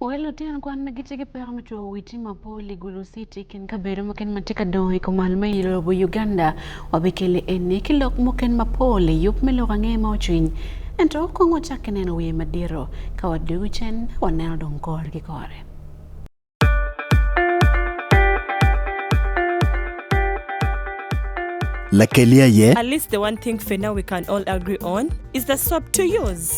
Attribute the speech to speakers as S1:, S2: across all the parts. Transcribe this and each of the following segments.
S1: Wel Otieno kwan ma gitye ki peko me cwako wi tim mapol i Gulu City kin kabedo muken ma tye ka dongo i kumal me i lobo Uganda wabikele eni ki lok muken mapol i yub me lok ange ma ocwiny ento kong wacak ki neno wiye madito ka wadugu cen waneno dong kore ki kore.
S2: Lakelia ye. At least the one thing for now we can all agree on is the swap to use.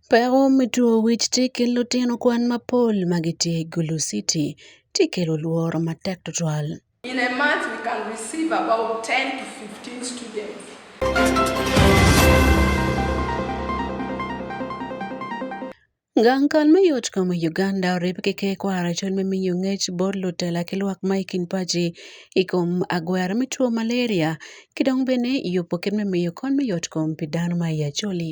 S1: Peko me two wic tye i kin lutino kwan mapol ma gitye i Gulu City tye kelo lworo matek twatwal. In a month we
S3: can receive about 10 to 15 students.
S1: Gang kal me yot kom i Uganda orib ki ke kwaro i col me miyo ngec bot lutela ki lwak ma i kin paci i kom agwera me two malaria ki dong bene yubo kit me miyo kony me yot kom pi dano ma i acholi.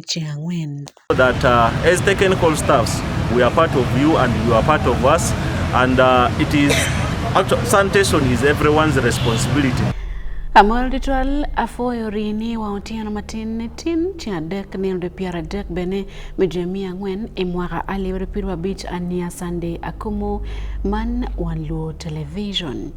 S1: ji ang'wen. That uh,
S4: as technical staffs we are part of you and you are part of us and uh, it is sanitation is everyone's responsibility. Amol
S1: Ritual afoyo rini wa otieno matin ne tin ci adek ne onde pier adek bene me jwe mia ang'wen e mwaka alif abiriyo piero abich ania Sunday Akumu man One Luo Television.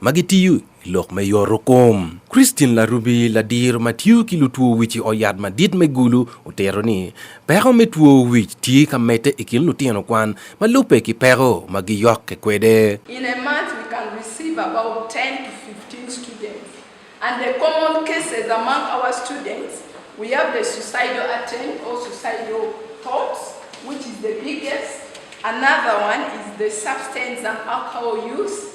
S5: ma gitiyo i lok me yoro kom. Christine Larubi ladir ma tiyo ki lutwo wic i oyat madit me Gulu otero ni peko me two wic tye ka medde i kin lutino kwan ma lubbe ki peko ma giyokke kwede. In a month we
S3: can receive about 10 to 15 students and the common cases among our students we have the suicidal attempt or suicidal thoughts which is the biggest another one is the substance and alcohol use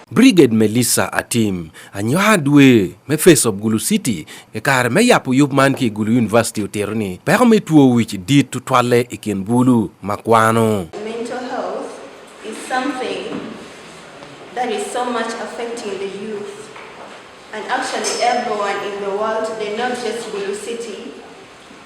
S3: Brigade Melissa
S5: Atim anywa dwe me Face of Gulu City e kare me yapo yub man ki Gulu University otero ni peko me two wic dit tutwalle i kin bulu ma kwano. Mental
S6: health is something that is so much affecting the youth and actually everyone in the world today not just Gulu City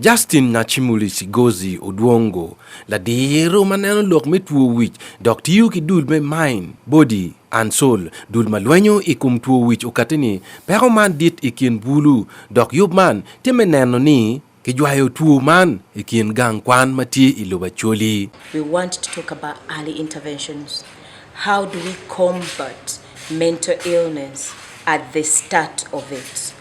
S6: Justin
S5: Nachimuli Sigozi Odwongo ladiro ma neno lok me two wic dok tiyo ki dul me mind, body and soul dul ma lwenyo i kom two wic okati ni peko man dit i kin bulu dok yub man tye me neno ni kijwayo two man i kin gang kwan ma tye i lobo Acholi. We want to talk
S7: about early interventions. How do we combat mental illness at the start of it?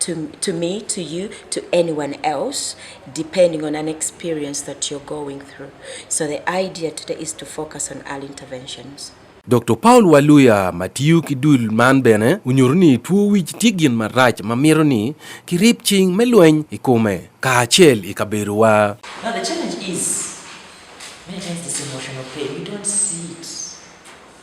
S7: to, to me, to you, to anyone else, depending on an experience that you're going through. So the idea today is to focus on early interventions. Dr. Paul
S5: Waluya ma tiyo ki dul man bene onyuto ni two wic tye gin marac ma mito ni kirib cing me lweny i kome kacel i kabedowa. Now the challenge
S8: is many times this emotional pain we don't see it.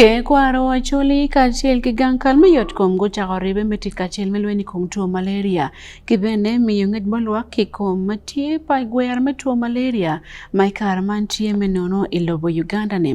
S1: ke kwaro wacholi kaachiel gi gang kal mayot kom gochako ribe me tit kaachiel me lweny kom tuo malaria ki bene miyo ngec ma lwak ki kom ma tye pa gwer me tuo malaria ma i kare man tye me nono i lobo uganda-ni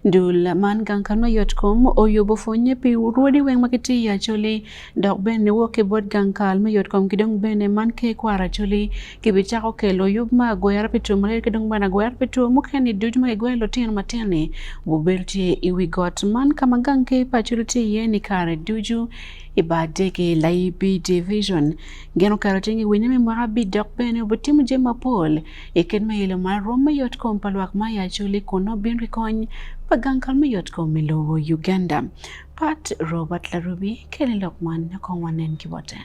S1: Dul man gang ka nwa yot kom oyo bo fonye pi urodi weng ma kiti ya choli dok ben ni woke bot gang kal me yot kom kidong ben e man ke kwara choli ki bi chako kelo yub ma goyara pi tum rer kidong ben agoyara pi tum mukeni duj ma igoye lo tino matini bu bel ti i wi got man ka ma gang ke pa choli ti ye ni kare duju i ba dege la i bi division Gin okato cing i winyo me mwaka abit dok bene obitimo jami mapol i kit me ilo mar rwom me yot kom pa lwak ma i Acholi kun nongo bino ki kony pa gang kal me yot kom i lobo Uganda. Pat Robert Larubi kelo lok man kong wanen ki bote.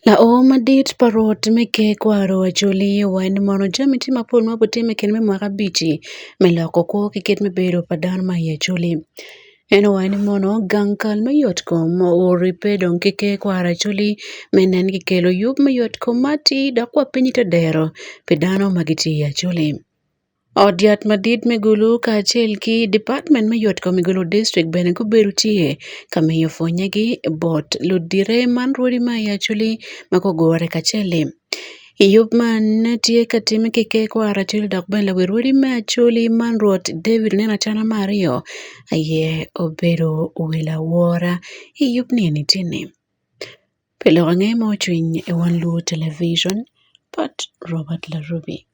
S1: Laoo madit pa rwot me ker kwaro Acholi wa en mono jami tye mapol ma obitimo i kine me mwaka abic-ci me loko kwo ki kit me bedo pa dano ma i Acholi. Eno wa ni mono gang kal me yot ko mo ori pe dong ki ke kwara culi me nen ki kelo yub me yot ko ma ti dok wa piny te dero pi dano ma ki ti aculi. Ot yat madit me gulu ka acel ki department me yot ko me gulu district bene gubedo tye ka miyo pwonye gi bot ludire man rwodi ma i aculi ma gugure kacel-li. Yub ma ne tye ka timme ki ker kwara acel dok bene lawi rwodi me acholi man Rwot David oneno acana me aryo aye obedo wil awora. I yub ni eni tye ni pi lok ange ma ocwiny i wan luwo television pat Robert Larubi.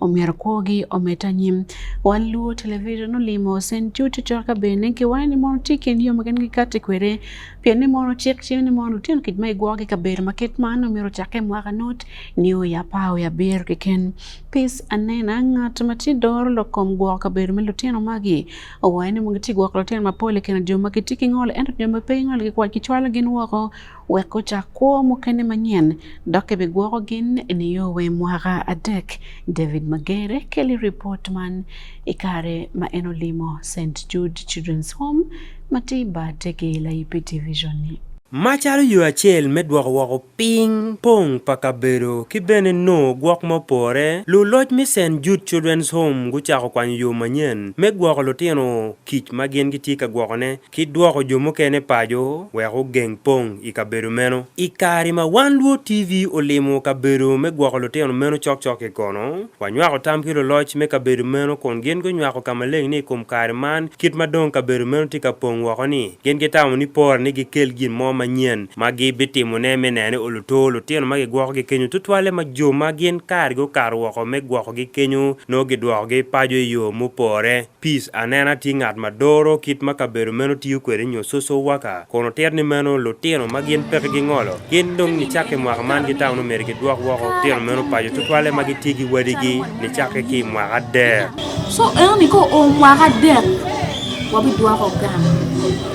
S1: omier kwogi ometa nyim wan luo television olimo sen chuchu choka bene ki wan ni mono ti ken yo magen gi kati kwere pien ni mono chik chim ni mono lutino kit ma igwogi ka ber ma ket man omiro chake mwaka not ni o ya pa o ya ber ki ken pis anena ngat ma ti doro lokom gwoko ka ber me lutino magi owaye ni mogi ti gwoko lutino mapol ken jo ma kiti ki ngol ento jo ma pe ngol ki kwat ki chwalo gin woko wek ocak kwo mukene manyen dok ebigwoko gin niyo we mwaka adek. David Magere keli ripot man i kare ma en olimo St Jude Children's Home ma tye bate ki Laipi Division ni. Macalo yo
S9: acel me dwoko woko piny pong pa kabedo ki bene nongo gwok ma opore, luloc me St Jude Children's Home gucako kwanyo yo manyen me gwoko lutino kic ma gin gitye ka gwokone ki dwoko jo mukene paco wek ogeng pong i kabedo meno. I kare ma Wan Luo TV olimo kabedo me gwoko lutino meno cokcok-ki kono, wanywako tam ki luloc me kabedo meno kun gin gunywako ka maleng ni i kom kare man kit ma dong kabedo meno tye ka pong woko-ni, gin gitamo ni pore ni gikel gin mo manyen ma gibitimone me neno ni oluto lutino ma gigwokogi kenyo tutwalle ma jo ma gin kargi okato woko me gwokogi kenyo nongo gidwokogi paco i yo mupore. Peace anena tye ngat ma doro kit ma kabedo meno tiyo kwede nyo soso waka kun otit ni meno lutino ma gin peke gingolo gin dong nicakke mwaka man ki taun omeri ki dwok woko tino meno paco tutwalle ma gitye ki wadigi nicakke ki mwaka adek so eno ni
S10: ko o mwaka adek wabidwoko gang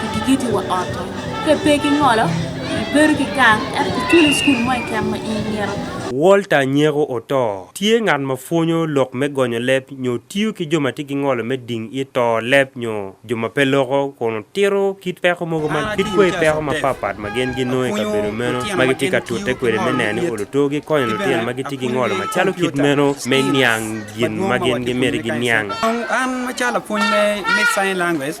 S10: kidikiti wa ot to ke pe ki ngolo ibedo ki gang ento kiculo cukul mo i kem ma in
S9: myero Walter Nyeko oto. Tye ngat ma pwonyo lok me gonyo leb nyo tiyo ki jo ma tye ki ngolo me ding i to leb nyo jo ma pe loko kun otito kit peko mogo ma kit kwe peko mapapat ma gin ginongo i kabedo meno ma gitye ka tute kwede me neno ni oluto gikonyo lutino ma gitye ki ngolo macalo kit meno me niang gin ma gin gimiti giniang An macalo
S11: lapwony me sign language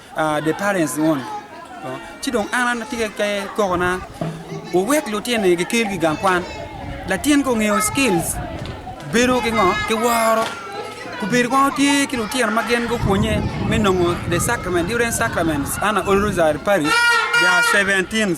S11: the parents want ci dong an an atye ke kokona wuwek lutyen ni gikel ki gang kwan latin ko ngeyo skills bedo ki ngo ki woro kubedo kong tye ki lutino ma gin gupwonye me nongo the sacrament different sacraments ana olrosary parish there are 17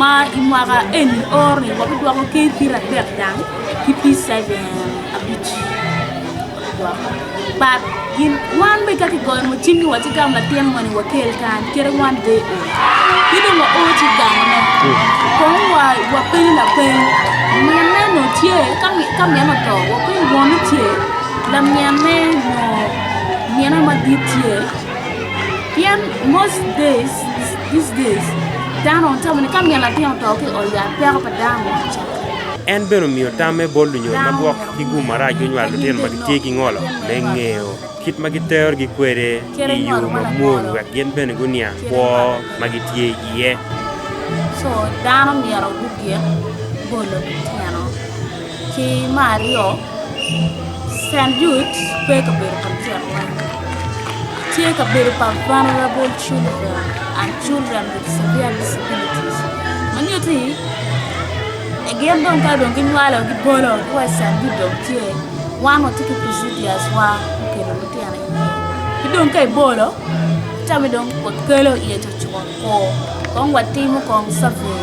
S10: ma i mwaka eni ore wabidwoko ki pir adek dang ki pir seven abic but gin wan be kaki goyo mo cimni wati gam latin moni wakel kan kere wan de o kidong wa o ci gamone kon wa wa piny la piny mien neno tye ka mi- ka mien oto wa piny woni tye la mien ne no miena madit tye Pien most days, these days, dano tamo ni ka myel latin oto ki ot yat peko pa dano me kica. En bene
S9: omiyo tamme bol lunyo ma gwok ki gum marac gunywalo lutino ma gitye ki ngolo me ngeo kit ma gitero gi kwede i yo mamwol wek gin bene guniang kwo ma gitye iye. So
S10: dano myero gugik bolo lutino. Ki mar aryo, Cent Jude pe i kabedo pa lutino kwan. Tye i kabedo pa vulnerable children and children with severe disabilities. Ma nyuto ni gin dong ka dong ginywalo gibolo ki wa i Cent Jude dong tye wan watye ki procedures wa me kelo lutino iye. Ki dong ka ibolo tami dong wakelo iye coco. Kong watimo kong survey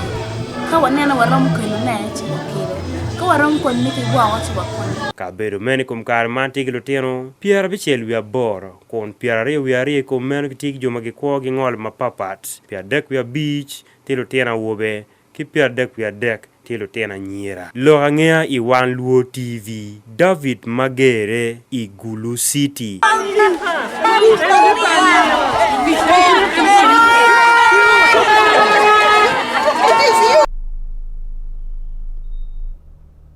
S10: ka waneno waromo kelo ne ci wakelo ka waromo kod miti gwoko ci wakonyo Kabedo meno i kom
S9: kare man tye ki lutino pyera abicel wiye aboro, kun pyera aryo wiye aryo i kom meno gitye ki jo ma gikwo gingolo mapapat, pye adek wiye abic tye lutino awobe, ki pyerdek wiye adek tye lutino anyira. Lok angeya i Wan Luo TV, David ma gerre i Gulu City.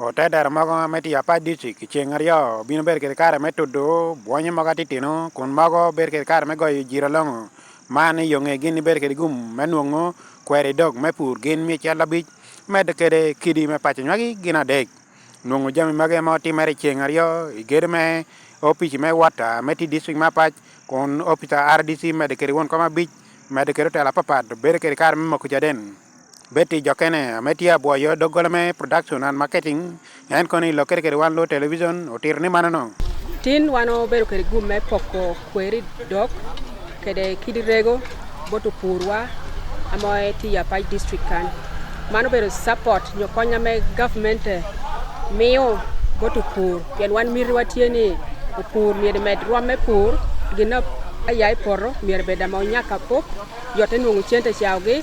S1: Ote tero mogo
S12: me tiyo apac dicik i ceng aryo bino bedo kede kare me tudu bwonyo mogo atitino kun mogo bedo kede kare me goyo jiro longo man i yonge gin ibedo kede gum me nwongo kweri dog me pur gin mi cal abic medo kede kidi me paco nywagi gin adek nwongo jami magi ema otimere i ceng aryo i gedo me opic me wata me ti dicik me apac kun opic rdc medo kede won kom abic medo kede otelo apapat bedo kede kare me moko caden Betty Jokene ma tye abwoyo doggola me production and marketing en kono i lokkere kede wan lo television otito ni manono. Tin wan
S13: obedo kede gum me poko kweri dok kede kidi rego bot opurwa ama tye i Apac district kan. Man obedo support nyo konya me government miyo bot opur pien wan mitiwa tye ni opur myero med rwom me pur gin aya i poto myero bed ama onyak apop yote nongo cente cawogi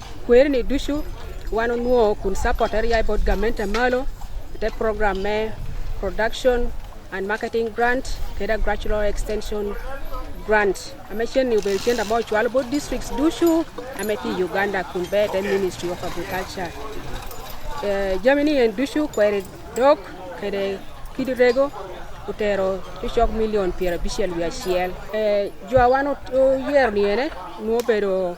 S13: kwerni ducu wan onwo kun support area i board government malo te program me production and marketing grant keda gradual extension grant ame chen ni ubel chen abo chwal board districts ducu ame ti uganda kun be te ministry of agriculture eh, jamini en ducu kweri dok kede kidi rego utero tucok milion piero abicel wiye acel eh, jwa wan oyero ni ene nwo bedo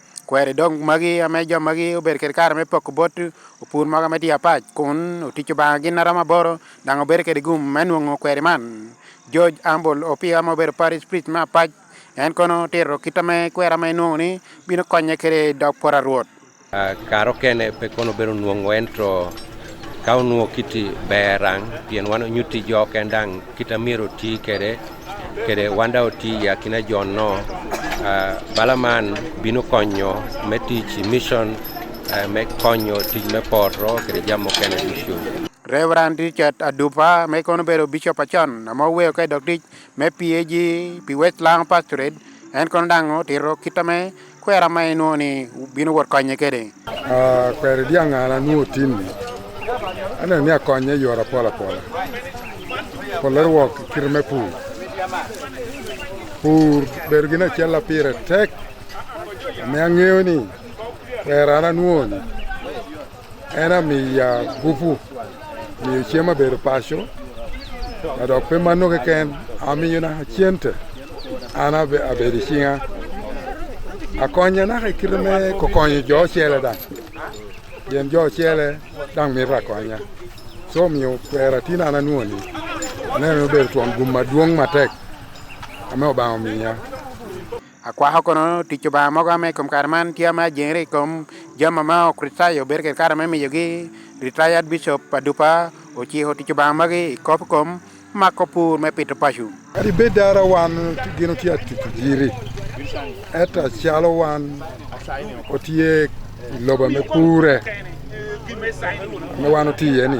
S12: Kweri dong magi ma jo magi obedo kwede kare me poko bot opur mogo me dye apac kun otic Lubanga gin na romo aboro dok obedo kwede gum me nongo kweri man. George Ambul Opia ma obedo parish priest me apac en kono tito kita me kwera ma enongo ni bino konye kwede i dog poto arwot. Uh, karo
S5: kene pe kono obedo nwongo ento ka onwo kiti berang pien wan onyuti jo kendang kita miro ti kede kede wanda oti ya kina jon no uh, bala man bino konyo me tic mission uh, me konyo tic me poto kede jam mukene ducu Reverend
S12: Richard Adupa me kono bedo bishop acon ma oweyo ka idok tic me PAG pi Westland Pastorate en kono dang otito kita me Kwera ma inwo ni bino wot konye kede? Uh, kwere
S14: diang' an anwo tim ni. Aneno ni akonye yora apola pola. Polerwok kir me pur. Pur bedo gin achiel la pire tek. Me ang'eyo ni kwera an anwo ni. En amiya gupu miyo cem abedo paco adok pe mano keken amiyo na cente an abedo icinga akonya naka i kite me kokonyo jo ocele dang pien jo ocele dang mito akonya so omiyo kwera tin an anwoni aneno obedo twon gum madwong matek ame obanga omiya Akwako
S12: kono tic Lubanga mogo ame i kom kare man tye ma ajengere i kom jami ma ma ok ritaya obedo kede kare me miyogi retired bishop pa dupa ociko tic Lubanga magi i kop kom mako pur me pito paco. Kadi bed dara
S14: wan gino tye atic jiri eta calo wan otye i loba me pure me wan otiye ni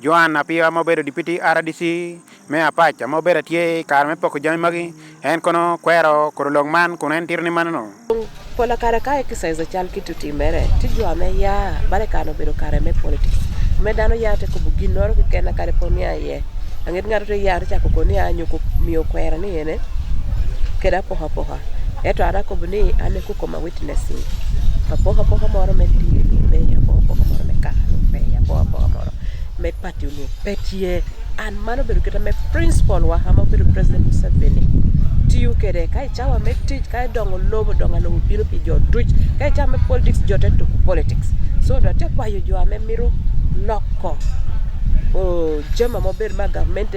S12: Joan Apiwa ma obedo dipiti RDC me Apac ma obedo tye i kare me poko jami magi en kono kwero kuro lok man kun en tito ni manono. Pola kare
S15: ka exercise cal ki tuti mere ti jo me ya bare kare obedo kare me politics me dano ya te kubu gin noro ki kena kare po niya ye angit ngato te ya te cako ko niya nyo miyo kwera ni ene keda poka poka Eto an akobo ni an e kuko ma witnessing. Apoka poka moro me dini, me apoka poka moro me kahalo, me apoka poka moro me party ni petie. An mano bedo kata me principal wa ama bedo President Museveni. Tiyo kede ka ichawa me tich ka idongo lobo donga lobo biro pi jo tuch ka ichawa me politics jo te tuku politics. So do te kwayo jo ame miro loko o jema mober ma government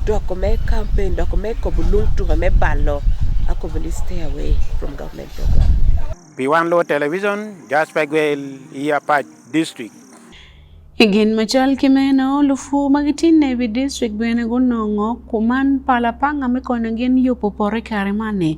S15: doko me campaign doko me Piwan Luo
S12: Television, Jasper Gwel, Iya Pach District. I
S1: gin macal ki meno lufu ma gitye Navy District bene gunongo kuman pala panga me konyo gin yubo pote kare man-ni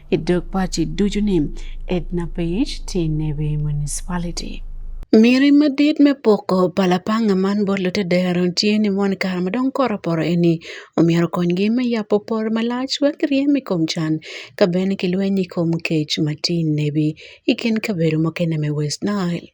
S1: Idokpachi Dujuni, Edna Page, Tinewe Municipality. Miri madit me poko palapanga man bot lutedero tye ni mon kare ma dong koro poro eni omyero konygi me yapo poro malac wek ryem i kom can ka bene ki lweny i kom kec ma tye nebi i kin kabedo mukene me West Nile.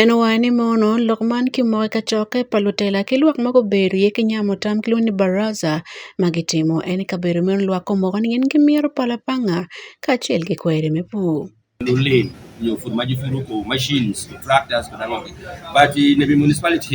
S1: En owai ni mono lok man kimoke ka cokke pa lutela ki lwak ma gubedo iye ki nyamo tam kilwongo ni Baraza ma gitimo en i kabedo meno lwak gumoko ni gin gimito pala pa anga kacel ki kweri me pur. Lulin
S16: nyo pur ma gipuro ko machines, tractors kod ango-gi but i Nebbi municipality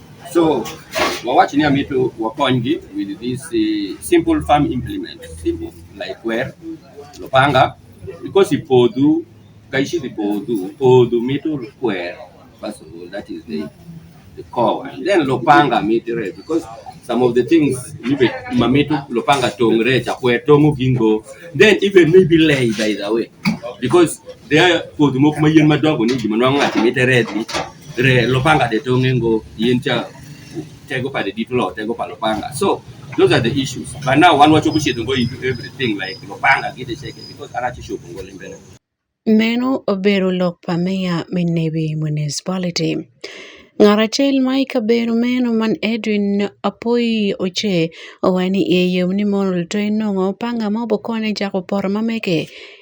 S16: So wawach ni amito wakonygi with this uh, simple farm implement simple like where lopanga because ipodhu kaishi ipodhu podhu mito kwer first of all that is the the core one then lopanga mitre because some of the things ibe mamitu lopanga tongre chakwe tongu gingo then even maybe lay by the way because there podhu moko mayien madongo ni gima nwang'o ati mitere re lopanga de tonge ngo yin cha tego pade dit lo tego pa lopanga so those are the issues but now wan wacho kuchiedo go into everything like lopanga gide cheke because arachi shopo ngo limbele Meno
S1: obero lok pa meya me Nebi Municipality. Ngat acel ma i kabedo meno man Edwin Apoyi Oche owaco ni i ye yom ni mono luto inongo panga ma obokonyo cako poto ma mege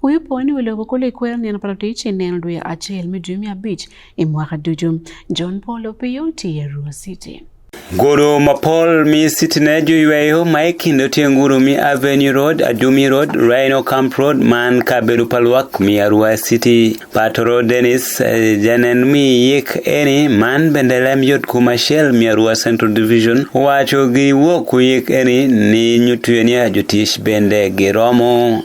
S1: Huyu poni oloko kolo ikwer neno pa latic ineno dwe acel me jumi abic i mwaka ducu. John Paul Opiyo tye i Arua City. Goro
S17: mapol mi sitine joyweyo ma e kind Otienguru mi Avenue Road, Adumi Road, Rhino Camp Road man kabedo pa lwak mi Arua City. Patoro Dennis eh, janen mi yik eni man bende lem yot kuma shell mi Arua Central Division wacho gi wuok yik eni ni nyutuyenia jotich bende giromo.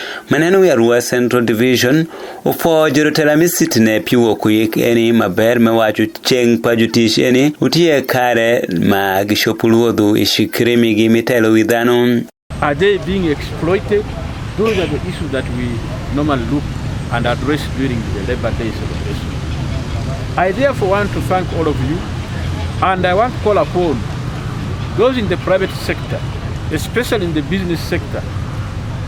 S18: Maneno wi Arua Central Division upo jorotela misit ne piwo kuyik eni maber me wacho cheng pa jotich eni utiye kare ma gishopu luodhu ishikirimi gi mitelo wi dhano. Are they being
S19: exploited? Those are the issues that we normally look and address during the Labor Day celebration. I therefore want to thank all of you and I want to call upon those in the private sector, especially in the business sector,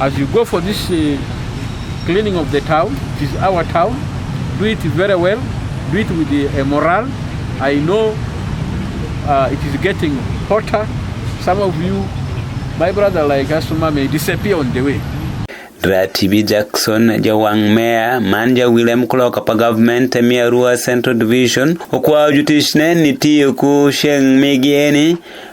S19: As you go for this uh, cleaning of the town, it is our town, do it very well, do it with the uh, morale. I know uh, it is getting hotter. Some of you, my brother like Asuma, may disappear on the way. Ratibi
S18: Jackson jawang meya man ja William Clark apa government e Miarua Central Division okwayo jotich ne ni tiyo ku sheng migi eni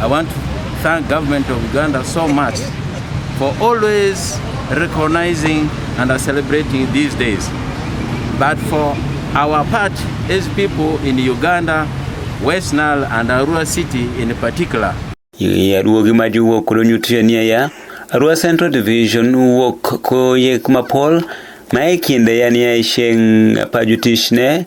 S20: I want to thank government of Uganda so much for always recognizing and celebrating these days. But for our part as people in Uganda, West Nile and Arua City in particular. Ye aduogi ma jiwuok kod nyutriania
S18: ya Arua Central Division wuok koyek mapol ma e kinde ya ni ya isheng pa jutichne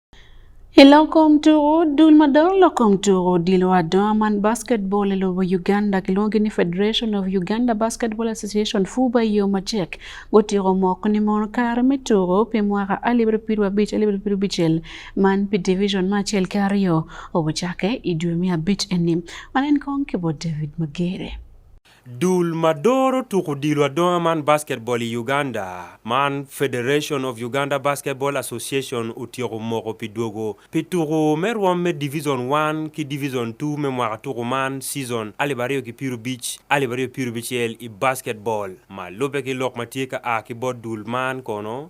S1: Iloko mtuo dul madongo loko mtuo dilo wadongo man basketball e lobo Uganda kiluonge ni Federation of Uganda Basketball Association FUBA yo machek gotieko moko ni mon kare me tugo pi mwaka alif abiriyo piero abich alif abiriyo piero abichiel man pi division ma achiel ki aryo obochake i dwe me abich eni. Wan en kong kibo David Magere. Dul
S9: ma doro tuko odilo adonga man basketball i Uganda man Federation of Uganda Basketball Association otyeko moko pi dwogo pi tuko me rwom me Division One ki Division Two me mwaka tuko man season alip aryo ki pyerrubic alip aryo pyerrubicyel i basketball ma lube ki lok ma tye ka a ki bot dul man kono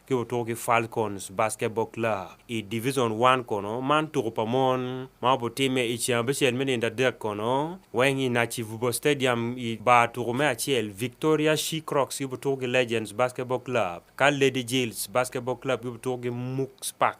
S9: ki otuko ki Falcons Basketball Club i Division One kono man tuko pa mon ma obitimme i Cengabicel me nindo adek kono weng i Naci Vubo Stadium i bar tuko me acel Victoria She Crocs ki otuko ki Legends Basketball Club ka Lady Jills Basketball Club ki otuko ki Mooks Park.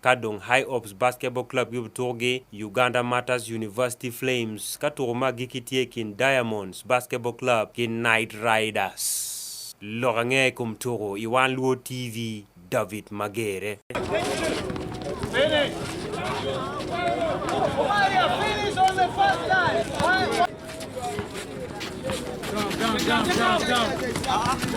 S9: Kadong High Ops Basketball Club gibutuko gi Uganda Martyrs University Flames ka tuko ma giki tye kin Diamonds Basketball Club ki Night Riders. Lok ange kum tuko i One Luo TV David Magere. Down, down, down,
S1: down.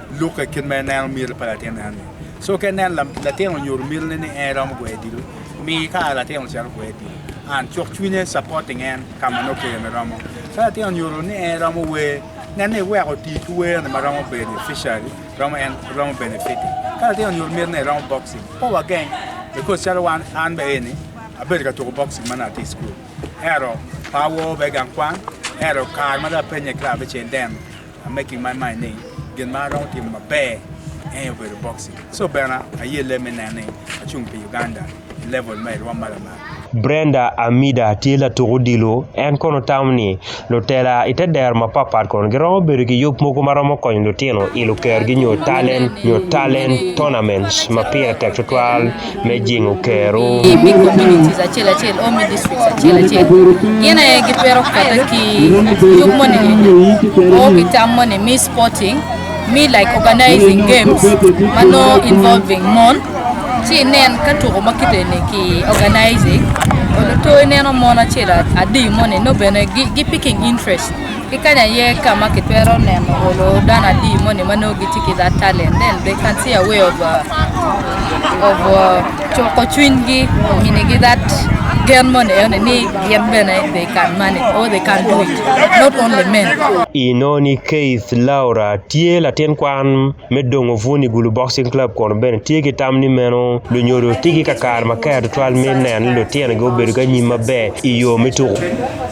S2: Luka kin me neno mil pa latin en ni. So ke nen lam latin onyor mil ni en rom gwe dil. Mi ka latin chal gwe dil. An chok chwinye supporting en kama no ke me romo. Sa latin onyor ni en romo we nen ni we ko ti ku we na romo beneficiary, romo en romo benefit. Ka latin onyor mil ni romo boxing. Po wa gang because chal wan an be ni. Abel ka to boxing man at school. Ero pawo be gang kwan. Ero kar ma da penye club chen dem. I'm making my mind ni gin ma aromo timo maber en obedo boxing. So bena ayie leme nene achung' pi Uganda e level ma irwa malo malo. Brenda
S9: Amida tye latuk odilo en kono tamo ni lutela ite dero mapatpat kono giromo bedo ki yub mogo ma romo konyo lutino i lukergi nyo talent nyo talent tournaments ma pire tek tutwal me jingo kero. I big communities
S21: achiel achiel, all me districts achiel achiel. Gin aye gi pero kata ki yub mone, o ki tam mone, me sporting, me like organizing games, mano involving mon. Chi nen ka tuko makite ne ki organizing, oloto neno mon achiel adi mone, no bene gi, gi picking interest. Kikanya ye kama kitwero neno olo dana di mone mano giti ki that talent then they can see a way of uh, of uh, choko chwinygi ngine gi that gen mone yone ni gen bene they can manage or they can do it not only men Inoni
S9: Keith Laura tye latin kwan me dongo Vuni Gulu Boxing Club kun bene tye ki tam ni meno lunyodo tye ki kakare maker tutwal me neno ni lutinogi obedo ki anyim maber i yo me tuko.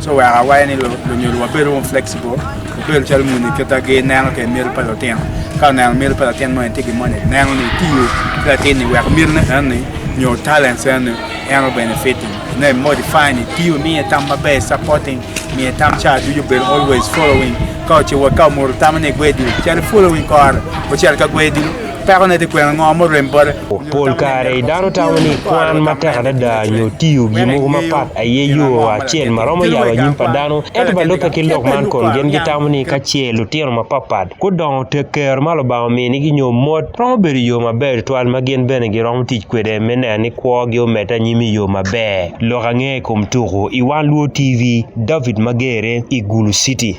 S2: So wek awaye ni lunyodo wabedo wong flexible, wabedo calo muni kita gi neno ke mil pa lutino. Ka oneno mil pa latin mo en tye ki moni, neno ni tiyo ki latin ni wek milne en ni nyo talents en ni en obenefiting. Ne modify ni tiyo miye tam maber, supporting, miye tam ca ducu bedo always following. Ka ocewa ka omoro tamo ni gwe dilo, calo following kore, ocel ka gwe dilo, Peko ne ti kwena ngo mo rem bote. Pol
S9: kare i dano tamo ni kwan matek adada nyo tiyo gi mogo mapat aye yo acel ma romo yabo anyim pa dano ento ba lubbe ki lok man kun gin gitamo ni ka ce lutino mapatpat gudongo tek kero ma lubanga minigi nyo mot romo bedo yo maber twal ma gin bene giromo tic kwede me neno ni kwogi omedde anyim i yo maber. Lok ange i kom tuku i Wan Luo TV, David Magere i Gulu City.